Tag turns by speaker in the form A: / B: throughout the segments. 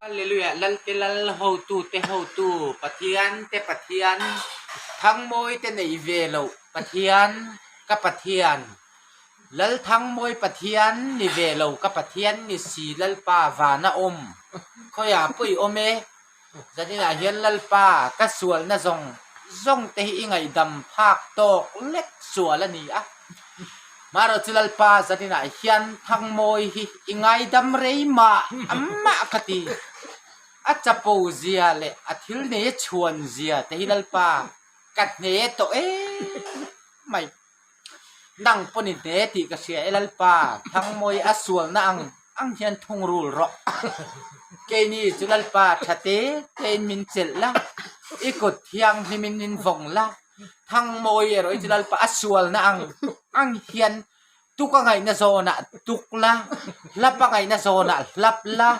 A: Hallelujah Lal te Lal hotu te hotu Pathian te Pathian Thangmawi te nei ve loh Pathian ka Pathian Lalthangmawi Pathian ni ve lo ka Pathian ni si Lalpa vana awm Khawiah pawih awm e Zaninah hian Lalpa, ka sualna zawng zawng te hi i ngaihdam phak tawk lek sual a ni a. Maherawhchu Lalpa, zaninah hian Thangmawi hi i ngaidam rei mah mah ka ti. A chapo zia leh a thil nei a chhuan zia te hi Lalpa, ka hne tawh em mai. Nang pawh ni te tih ka hria e Lalpa, Thangmawii a sualna ang ang hian thungrul rawh. Keini chu Lalpa tha te tein min chelh la, i kut thianghlim in min vawng la, Thangmawii erawh i chu Lalpa a sualna ang ang hian tuk a ngaihna zawnah tuk la, hlap a ngaihna zawnah hlap la,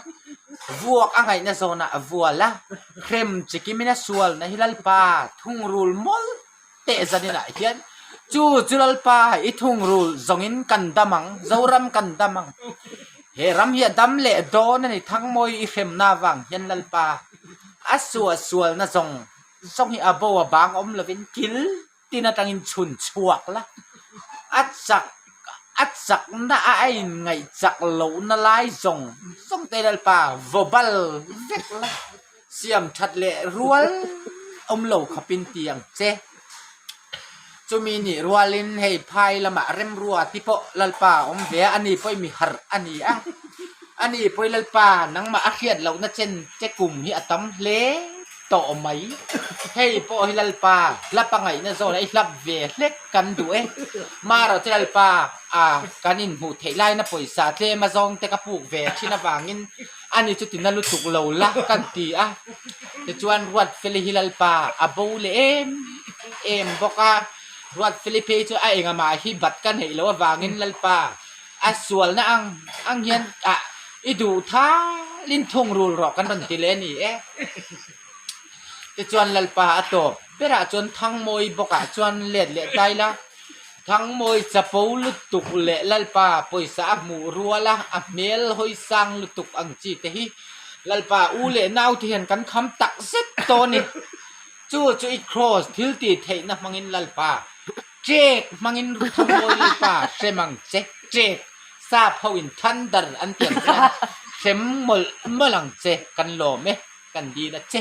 A: vuak a ngaihna zawnah vual la, hrem chikim in a sualna hi Lalpa thungrul mawl teh zanin ah hian chu chu lalpa i thungrul zawngin kan dam ang zoram kan dam ang he ram hi a dam leh dawn a ni thangmawi i hremna avang hian lalpa a suah sual na zawng zawng hi a bo a bang awm lovin kil tin atang in chhun chhuak la a chak a chak na a a in ngaih chak lohna lai zawng zawng te lalpa vaw bal vek la. Siam that leh rual awm lo khapin ti ang che. Chumi nih rual in hei phai lamah remrua ti pawh Lalpa a awm ve a, ani pawh i mi harh a ni a. Ani pawh i Lalpa nangmah a hriat lohna chen che kum hi a tam hle tawh mai. Hei pawh hi Lalpa hla pangaihna zawnah i hlap ve hlek kan duh e. Marawh che Lalpa a kan inhmuh theih laina pawisa tlem azawng te ka puk ve thin avangin Ani chu tina lutuk lo la kan ti a, tichuan Ruatfeli hi Lalpa a bo leh em em bawk a, Ruatfeli phei chu a enga mah hi bat ka hneih loh avangin Lalpa a sualna ang ang hian a i duh thalin thungrul rawh kan rawn ti leh a ni e, tichuan Lalpa a tawp. Berah chuan Thangmawi bawkah chuan let leh tai la, Thangmawi chapo lutuk leh Lalpa pawisa a hmuh rual a, a hmel hawi sang lutuk ang chi te hi Lalpa u leh naute hian kan kham tak zet tawh a ni. Chu chu i Kraws thiltih theihna hmangin Lalpa, Chek hmangin Ru Thangmawi Lalpa hrem ang che, chek, sap hoin than dar an tiang chuan hrem mawlh mawlh ang che, kan lawm e, kan dil a che.